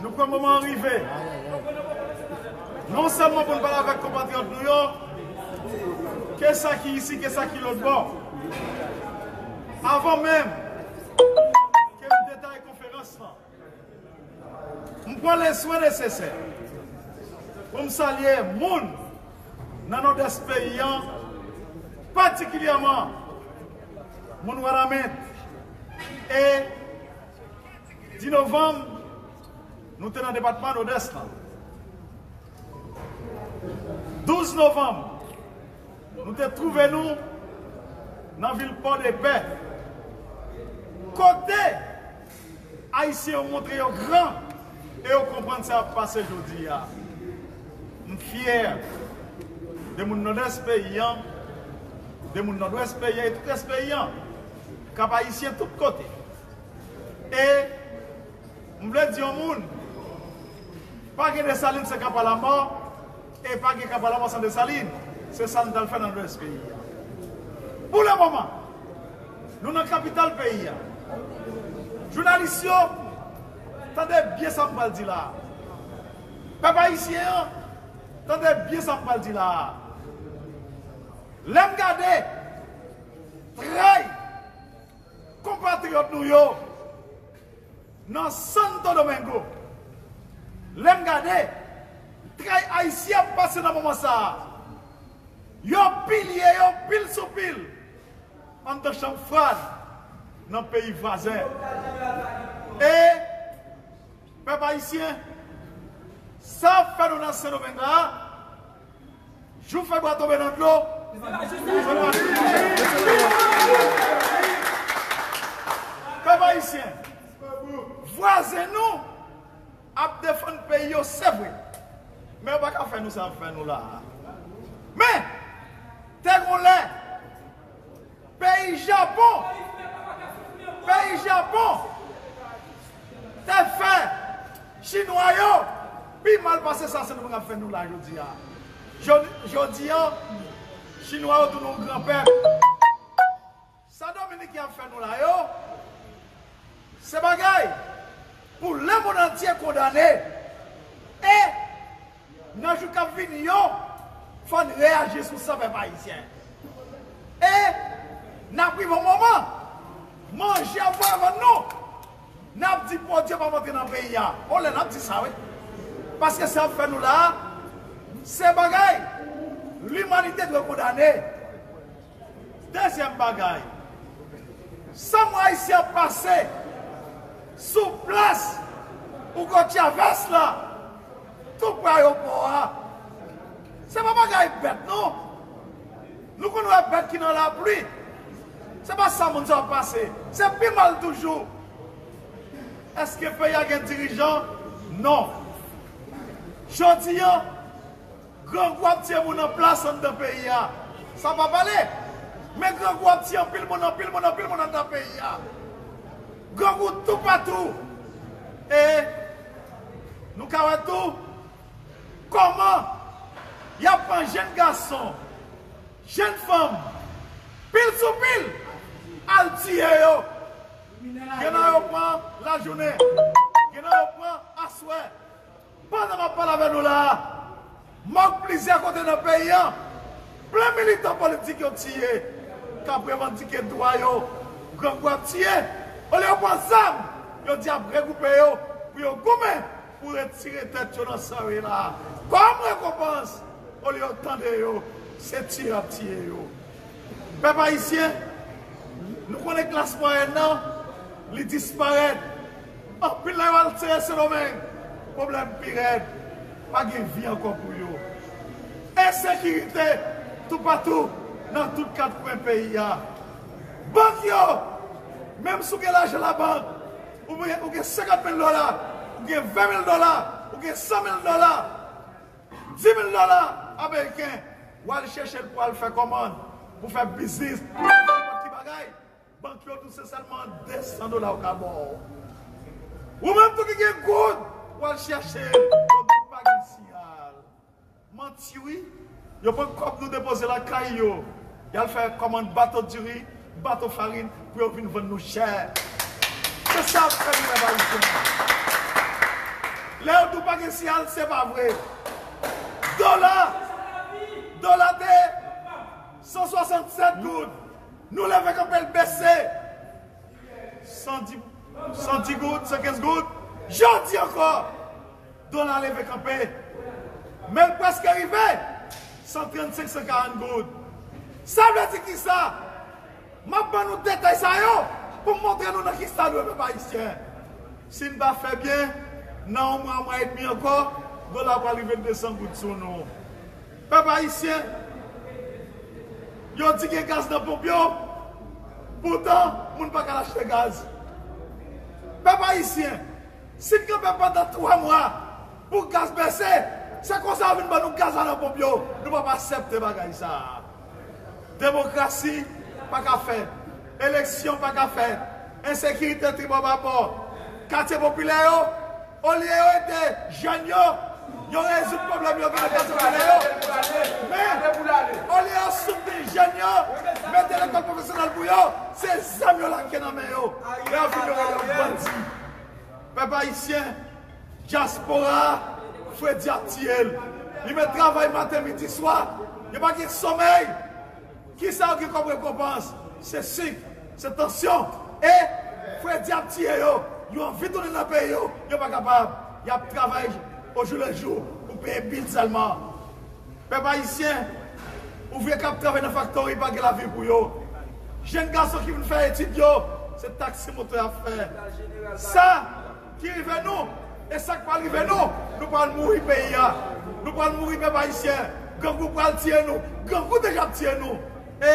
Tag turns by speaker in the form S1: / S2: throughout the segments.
S1: Nou pran moman an rive, non sèlman pou n pale avèk konpatriyòt nou yo, ke sa ki isi, ke sa ki lòtbò. Avan menm ke m detaye konferans lan, m pran leswen nesesè pou m salye moun nan Nòdès peyi an, patikilyèman moun Wanament e. 10 novanm, nou te nan depatman Nodès lan. 12 novanm, nou te twouve nou nan vil Pòdepè. Kote Ayisyen yo montre yo gran e yo konprann sa k ap pase jodi a. M fyè de moun Nodès peyi an, de moun Nodwès peyi an e tout rès peyi an, Kap-Ayisyen tout kote. E m vle di yon moun, pa gen Desalin san Kapa la mò, e pa gen Kapa la mò san Desalin. Se sa nou t al fè nan Lwès peyi a. Pou le moman, nou nan kapital peyi a. Jounalis yo, tande byen sa m pral di la a. Pèp ayisyen an, tande byen sa m pral di la a. Lè m gade tray. Konpatriyòt nou yo nan Santo Domingo, lè m gade tray Ayisyen ap pase nan moman sa a, yo pilye yo pil sou pil anndan chanm frad nan peyi vwazen. E, pèp Ayisyen, sa ap fè nou nan Sendomeng la a, Jou fè bwa tonbe nan dlo, se pa jis pou jwenn machin pou jèn fi se nan rans li ye. Pèp Ayisyen, vwazen nou ap defann peyi yo se vre, men yo pa ka fè nou sa yo fè nou la a. Men, te gon lè. Peyi Japon Peyi Japon te fè Chinwa yo pi mal pase sa Sendomeng ap fè nou la jodi a. Jodi an, Chinwa yo tounen yon gran pèp. Sa Dominiken ap fè nou la yo, se bagay pou lemonnantye kondane e Nan jou kap vini yo fòn reyaji sou sa pèp ayisyen e nap rive yon moman manje ap voye vann nou nap di pwodwi ap antre nan peyi a yon lè nap di sa wi paske sa yap fè nou la se bagay limanite dwe kondane dezyèm bagay san mwa ayisyen ap pase sou plas Hugo Chavez la. Tou pre ayopò a. Se pa bagay bèt non. Nou konn wè bèt ki nan lapli. Se pa sa moun sa yo pase. Se pi mal toujou. Eske peyi a gen dirijan? Non. Jodi an, grangou ap tiye moun an plas anndan peyi a. Sa pa pale. Men grangou ap tiye anpil moun, anpil moun, anpil moun anndan peyi a. Grangou toupatou! E nou ka wè tou kòman y ap pran jenn gason, jenn fanm pil sou pil al tiye yo. Gen nan yo pran lajounen, gen nan yo pran aswè. Pandan map pale avè nou la a, mòg plizyè kote nan peyi an plen militan politik yo tiye kap revandike dwa yo, grangou ap tiye, olye yo pran zam yo di ap regwoupe yo pou yo goumen pou retire tèt yo nan sa yo ye la a kòm rekonpans, olye yo tande yo se tiye yap tiye yo. Pèp ayisyen, nou konnen klas mwayèn nan li disparèt. Anpil nan yo al seye sendomeng pwoblèm pirèd pa gen vi ankò pou yo ensekirite toupatou nan tout kat kwen peyi a bank yo menm si w gen lajan labank ou gen 50 mil dola ou gen 20 mil dola ou gen 100 mil dola 10 mil dola ameriken w al chèche l pou w al fè kòmand pou w fè biznis pou w fè nenpòt ki bagay Bank yo tou se sèlman 200 dola yo ka baw. Ou menm tou ki gen goud ou al chèche yo tou pa gen siyal. Manti wi. Yo pran kòb nou depoze lakay yo. Yal fè kòmand bato diri, bato farin pou yo vin vann nou chè. Se sa yap fè nou menm ayisyen. Lè yo di ou pa gen siyal se pa vre. Dola, dola te 167 goud. Nou leve kanpe l bese. San di San di goud, san kenz goud. Jodi ankò, dola leve kanpe. Men l prèske rive san trannsenk, san karann goud. Sa vle di ki sa? M ap ban nou detay sa yo pou m montre nou nan ki stad nou ye pèp ayisyen. Si n pa fè byen, nan yon mwa, yon mwa edmi ankò, dola pral rive desan goud sou nou. Pèp ayisyen, yo di gen gaz nan ponp yo, poutan moun pa ka al achte gaz. Pèp ayisyen, si n kanpe pandan 3 mwa pou gaz bese, se konsa yo vin ban nou gaz la nan ponp yo, nou p ap asèpte bagay sa a. Demokrasi pa ka fè, eleksyon pa ka fè, ensekirite tribòbabò, katye popilè yo, Olye yo ede jèn yo, yo rezoud pwoblèm yo genyen pase pou ale yo. Men, olye yo soutni jèn yo, mete lekòl pwofesyonèl pou yo, se zam yo lage nan men yo. Lè yo fin yo rele yo bandi. Pèp ayisyen, dyaspora a, fredi ap tiye l. Li met travay maten, midi, swa. Yo pa gen somèy. Kisa yo gen kom rekonpans se sik, se tansyon e fredi ap tiye yo, yo anvi tounen nan peyi yo, yo pa kapab, yap travay ojouleju pou peye bil selman. Pep ayisyen, ouvriye kap travay nan faktori pa gen lavni pou yo. Jenn gason ki vin fè etid yo, se taksi moto yap fè. Sa. Ki rive nou e sak pral rive nou nou pral mouri peyi a nou pral mouri pèp ayisyen grangou pral tiye nou grangou deja ap tiye nou e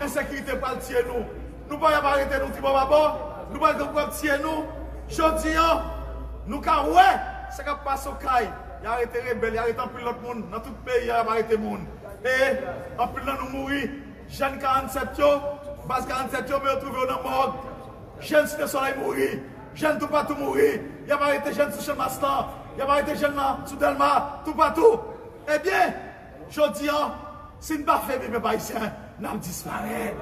S1: ensekirite pral tiye nou nou pa yap arete nou tribò babò nou bay grangou ap tiye nou jodi an nou ka wè sa kap pase okay ya arete rebèl ya arete anpil lòt moun nan tout peyi a yap arete moun e anpil nan nou mouri jèn 47 yo baz 47 yo men yo twouve yo nan mòg jèn site solèy mouri. Jèn toupatou mouri, y ap arete jèn sou Chanmas lan, y ap arete jèn nan sou Dèlma, toupatou. Ebyen, jodi an, si n pa femi pèp ayisyen, n ap disparèt.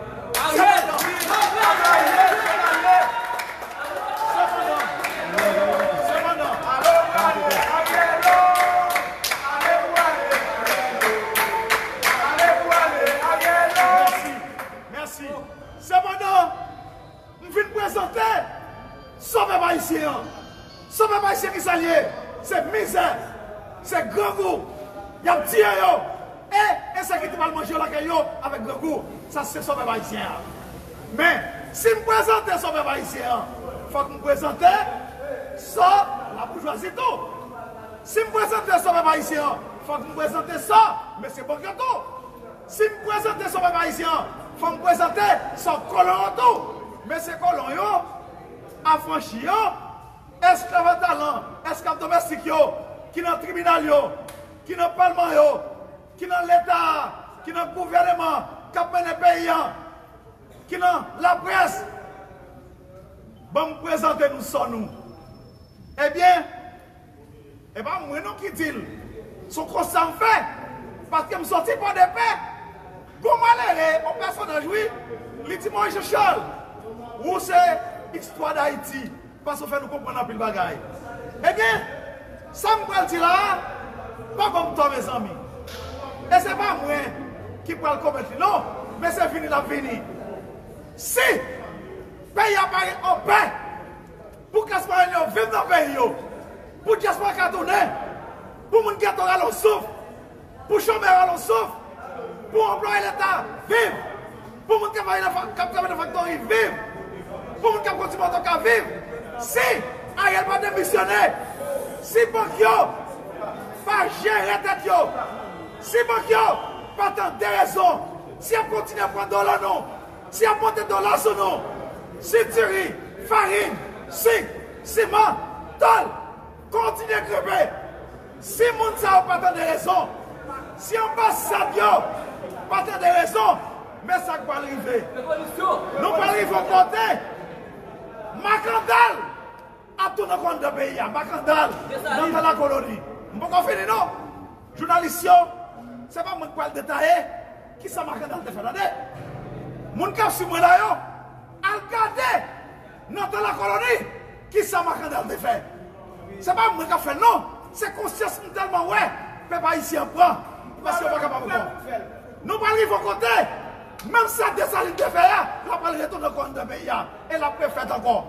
S1: Sepandan! M vin prezante San pèp ayisyen an. San pèp ayisyen kisa l ye? Se mizè, se grangou, y ap tiye yo e ensekirite pral manje yo lakay yo avèk grangou. Sa se san pèp ayisyen an. Men, si m prezante san pèp ayisyen an, fòk m prezante san laboujwazi tou. Si m prezante san pèp ayisyen an, fòk m prezante san mesye Bòkyo tou. Si m prezante son pèp ayisyen an, fò m prezante son kolon yo tou. Mesye kolon yo, afranchi yo, esklav a talan, esklav domèstik yo, ki nan tribinal yo, ki nan palman yo, ki nan leta a, ki nan gouvèneman k ap mennen peyi an, ki nan laprès, ban m prezante nou son nou. Ebyen! E pa mwen non ki dil. Son konsta m fè. Paskem soti pòdepè. Gon malere on pèsonaj wi li di Moise Charles wou se istwa dayiti paske ou fè nou konprann anpil bagay ebyen sam pral di la a pa banm tò mezanmi e se pa mwen ki pral komèt li non men se vini lap vini si peyi a pa anpè. Pou klas mwayenn yo viv nan peyi yo, pou dyaspora ka tounen, pou moun geto rale yon souf, pou chomè rale yon souf, pou anplwaye leta viv, pou moun kap travay nan faktori viv, pou moun kap kondui moto ka viv, si Ariel pa demisyone, si bank yo pa jere tèt yo, si bank yo pa tande rezon, si yap kontinye pran dola nou, Si y ap pote dola sou nou, si diri, farin, sik, siman, tòl, kontinye grenpe, si moun sa yo pa tande rezon, si anbasad yo pa tande rezon, men sa k pral rive. Nou pral rive yon kote, makandal! Ap tout an kònn dan peyi a makandal nan tan lakoloni m poko fini non jounalis yo se pa mwen k pral detaye kisa makandal te fè tande moun kap swiv mwen la yo al gade nan tan lakoloni kisa makandal te fè se pa mwen kap fèl non se konsyans m tèlman wè pèp ayisyen an pran paske yo pa kapab ankò nou pral rive yon kote menm sa desalin te fè a la pral retou nan kònn dan peyi a. E lap refèt ankò.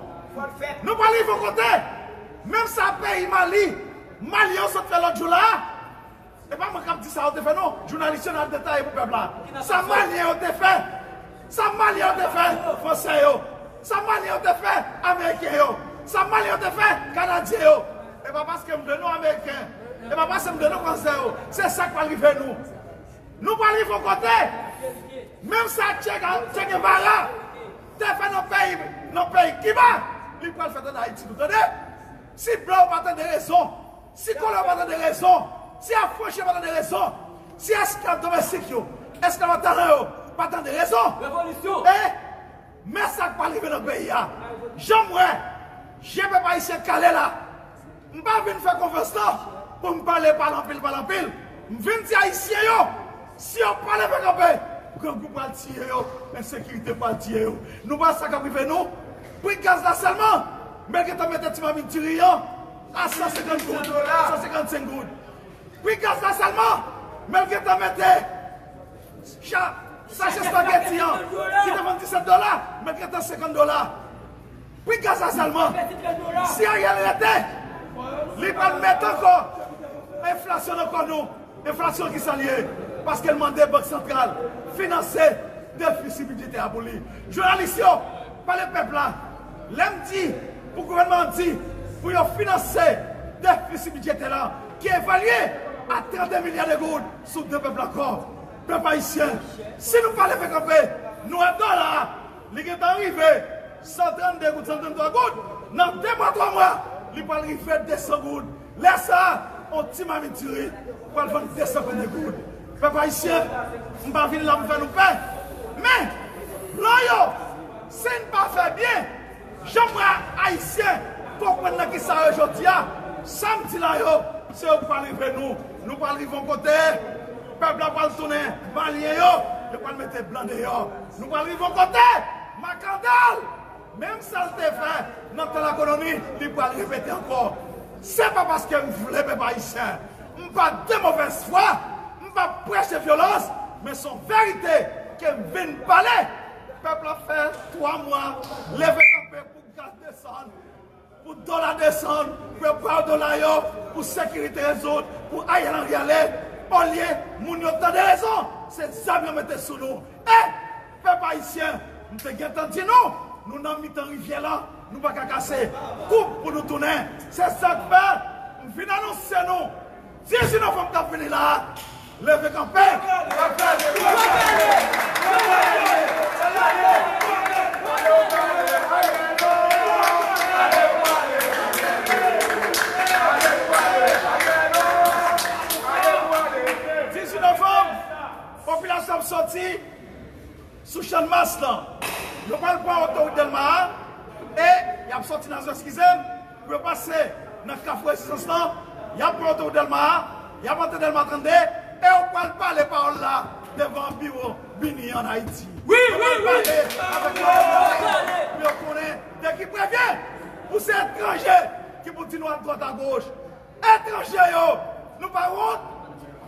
S1: Nou pa rive yon kote. Menm sa peyi Mali, Malyen yo sot fè lòt jou la a. E pa mwen kap di sa yo te fè non. Jounalis yo nan detaye pou pèp la. Sa Malyen yo te fè. Sa Malyen yo te fè Fransè yo. Sa Malyen yo te fè Ameriken yo. Sa Malyen yo te fè Kanadyen yo. E pa paske m de nou Ameriken. E pa paske m de nou Fransè yo. Se sak pral rive nou. Nou pral rive yon kote. Menm sa Che Guevara. Te fè nan peyi m nan peyi kiba li pral fèt an ayiti nou tande si blan yo pa tande rezon si kolon yo pa tande rezon si afranchi yo pa tande rezon si esklav domestik yo esklav an talan yo pa tande rezon e men sak pral rive nan peyi a janm wè je pèp ayisyen kale la. M pa vin fè konfrans lan pou m pale pale anpil pale anpil. M vin di ayisyen yo si yo pa leve kanpe grangou pral tiye yo, ensekirite pral tiye yo. Nou pa wè sa k ap rive nou? Pri gaz la sèlman men gentan mete ti mamit diri an a 150 goud, 155 goud. Pri gaz la sèlman men gentan mete sache spageti an ki te vann 17 dola men gentan 50 dola. Pi ke sa sèlman, si Ariel rete, li pral mete ankò enflasyon nan kò nou, enflasyon ki sa li ye? Paske li mande bank santral finanse defisi bidjetè a pou li. Jounalis yo, pale pèp la, lè m di pou gouvènman an di pou yo finanse defisi bidjetè la ki evalye a 32 milya de goud sou do pèp la ankò. Pèp ayisyen, si nou pa leve kanpe, nou ap dòla. Li gentan rive 132 goud, 133 goud, nan 2 mwa, 3 mwa, li pral rive 200 goud. Lè sa a, yon ti mamit diri pral vann 200 kòb de goud. Pèp ayisyen, m pa vin la pou fè nou pè, men, blan yo, si n pa fè byen, jan m wè Ayisyen konprann nan ki sa yo jodi a, sa m di la yo, se yo ki pral rive nou. Nou pral rive yon kote, pèp la pral tounen Malyen yo, yo pral mete blan deyò. Nou pral rive yon kote! Makandal! Menm sa l te fè nan tan lakoloni, li pral repete ankò. Se pa paske m vle pèp ayisyen. M pa de movèz fwa. M pa preche vyolans. Men s on verite ke m vin pale. Pèp la fè 3 mwa leve kanpe pou gaz desann. Pou dola desann, prepare dola yo pou sekirite rezoud pou Ariel Henry ale olye moun yo tande rezon se zam yo mete sou nou e pèp ayisyen m te gentan di nou nou nan mitan rivyè lan nou paka kase koub pou nou tounen se sak fè m vin anonse nou Ti jinn an fanm kap vini la leve kanpe. Ti jinn an fanm popilasyon ap soti. Sou channmas lan. Yo pral pran otorout Dèlma a e y ap sòti nan zòn Eskize m pou yo pase nan Kafou Rezistans lan. Y ap pran otorout Dèlma a, y ap antre Dèlma 32 e yo pral pale pawòl la devan biwo BINUH an Ayiti. Yo pral pale avèk mayòt Dèlma pou yo konnen de ki prevyen pou se etranje ki pou di nou adwat agoch. Etranje yo! Nou pa wont?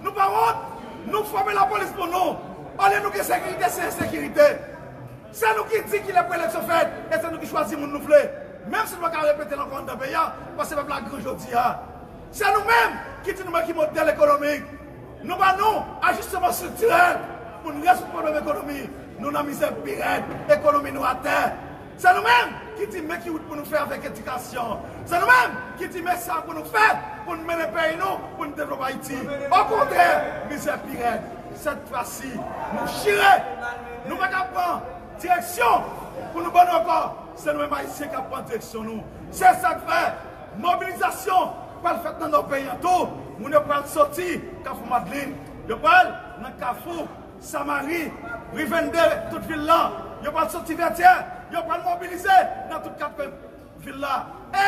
S1: Nou pa wont? Nou fòme lapolis pou nou, olye nou gen sekirite se ensekirite. Se nou ki di kilè pou eleksyon fèt e se nou ki chwazi moun nou vle, menm si nou pa ka repete l ankò anndan peyi a paske pèp la gran jodi a. Se nou menm ki di nou men ki modèl ekonomik nou ban nou, ajisteman estriktirèl pou n rezoud pwoblèm ekonomi nou nan mizè pi rèd, ekonomi nou atè. Se nou menm ki di men ki wout pou nou fè avèk edikasyon. Se nou menm ki di men sa pou nou fè pou n mennen peyi nou, pou n devlope Ayiti. Okontrè, mizè pi rèd. Sèt fwasi, nou chire! Nou pa ka pran direksyon pou nou bannou ankò. Se nou menm Ayisyen k ap pran direksyon nou. Se sa k fè, mobilizasyon pral fèt nan Nò peyi an tou. Moun yo pral soti Kafou Madlin. Yo pral nan Kafou. Samari, Rivende, tout vil la, yo pral soti Vètyè, yo pral mobilize nan tout kat kwen vil la. E,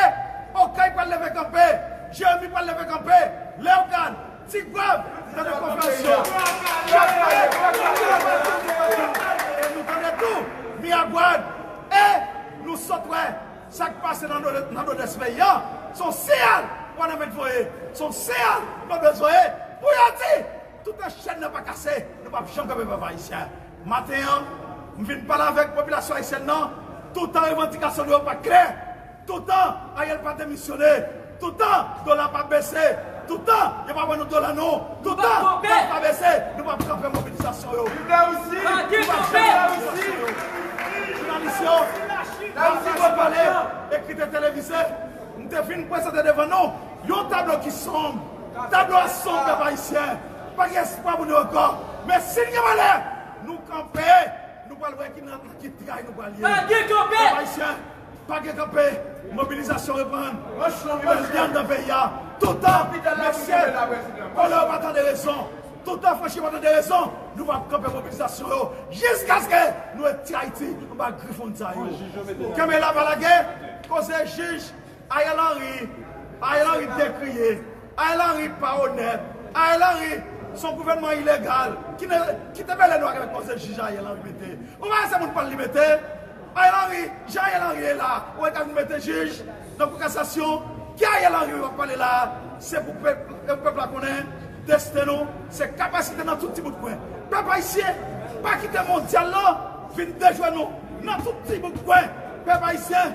S1: Okay pral leve kanpe, Jeremi pral leve kanpe, Lèogàn, Ti Gwav, tande konferans yo. Chèlbè, Longè pral soti Vètyè. E nou tande tou, Miragwàn. E, nou sot wè, sa k pase nan Nòdwès peyi an, s on siyal Wanament voye, s on siyal Nòdwès voye pou yo di. Toutan chèn nan pa kase, nou pap janm kanpe pèp ayisyen. Maten an, m vin pale avèk popilasyon ayisyèn nan, toutan revandikasyon nou yo pa klè, toutan Ariel pa demisyone, toutan dola pa bese, toutan yo pa ban nou dola nou, toutan gaz pa bese, nou pap kanpe mobilizasyon yo. Viv Larisi! Nou pap janm kanpe mobilizasyon yo. Jounalis yo, m pa pale, ekri te televize, m te vin prezante devan nou. Yon tablo ki sonb. Tablo a sonb pèp ayisyen. Pa gen espwa pou nou ankò. Men si n gen valè, nou kanpe, nou pral wè ki nan ak ki tray nou pral ye. Pa gen kanpe! Pèp ayisyen, pa gen kanpe. Mobilizasyon reprann. Li bal dyann nan peyi a. Toutan mesye vòlè yo pa tande rezon, toutan franchi yo pa tande rezon, nou va ap kanpe mobilizasyon yo jiskaske nou retire Ayiti anba grif moun sa yo. Kenbe la pa lage! Koze jij. Ariel Henry Ariel Henry byen kriye Ariel Henry pa onèt Ariel Henry son gouvènman ilegal kite mele nou ak lòt koze jij Ariel Henry mete ou pa wè se moun pal li mete Ariel Henry jan Ariel Henry ye la ou wè ta vin mete jij nan kou kasasyon ki Ariel Henry wap pale la se pou pèp la konnen desten nou se kapasite nan tout ti bout kwen pèp ayisyen pa kite mondyal lan vin dejwe nou nan tout ti bout kwen pèp ayisyen.